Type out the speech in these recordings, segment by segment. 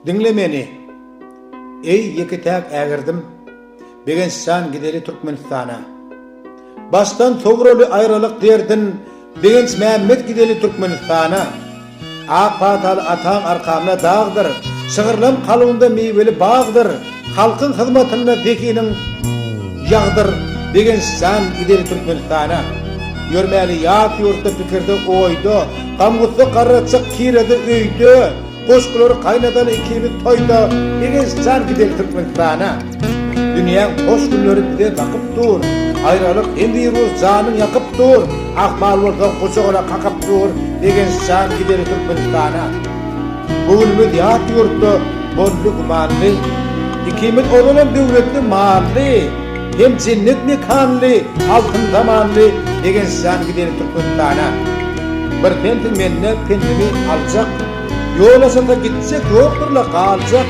Diňle meni, eý, ýeke-täk ägirdim, Begenç jan gideli Türkmenistana. Başdan sowraly aýralyk derdin, Begenç Mämmet gideli Türkmenistana. Ak pataly ataň arkamda dagdyr, Şygyrlam kalbymda miweli bagdyr, Halkyň hyzmatynda zehiniň ýagdyr Begençjan gideli Türkmenistana Ýörmäli ýat ýurtda pikirde oýda Gam-gussa garratjak kirede öýde Goşgulary gaýnadaly ikimiz toýda Begençjan gideli Türkmenistana Dünýäň hoş günleri bize bakyp dur Aýralyk hem wirus janyň ýakyp dur Ahmal bolsaň gujagyna kakyp dur Begençjan gideli Türkmenistana. Bu gün biz ýat ýurtda boldy gümanly, Ikimiz ozalam döwletli mally, Hem jennet mekanly, altyn zamanly Begenç jan gideli Türkmenistana. Bir pensiň menden pensiňi aljak, Ýol aşasa gitjek ýokdur-la galjak,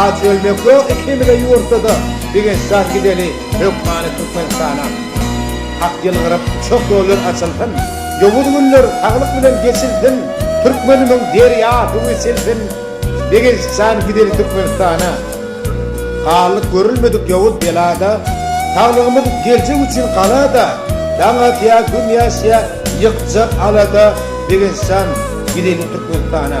Aç ölmek ýok ikimize ýurtda-da Bigençjan gideli hökmany Türkmenistana Hak ýylgyryp şok ýollar açylsyn Ýowuz günler saglyk bilen geçilsin Türkmenimiň derýa suwy silsin Begençjan gideli Türkmenistana Galdyk görülmedik ýowuz belada Saglygymyz geljek üçin galada Daň atýa gün ýaşýa ýykjak alada Begençjan gideli Türkmenistana.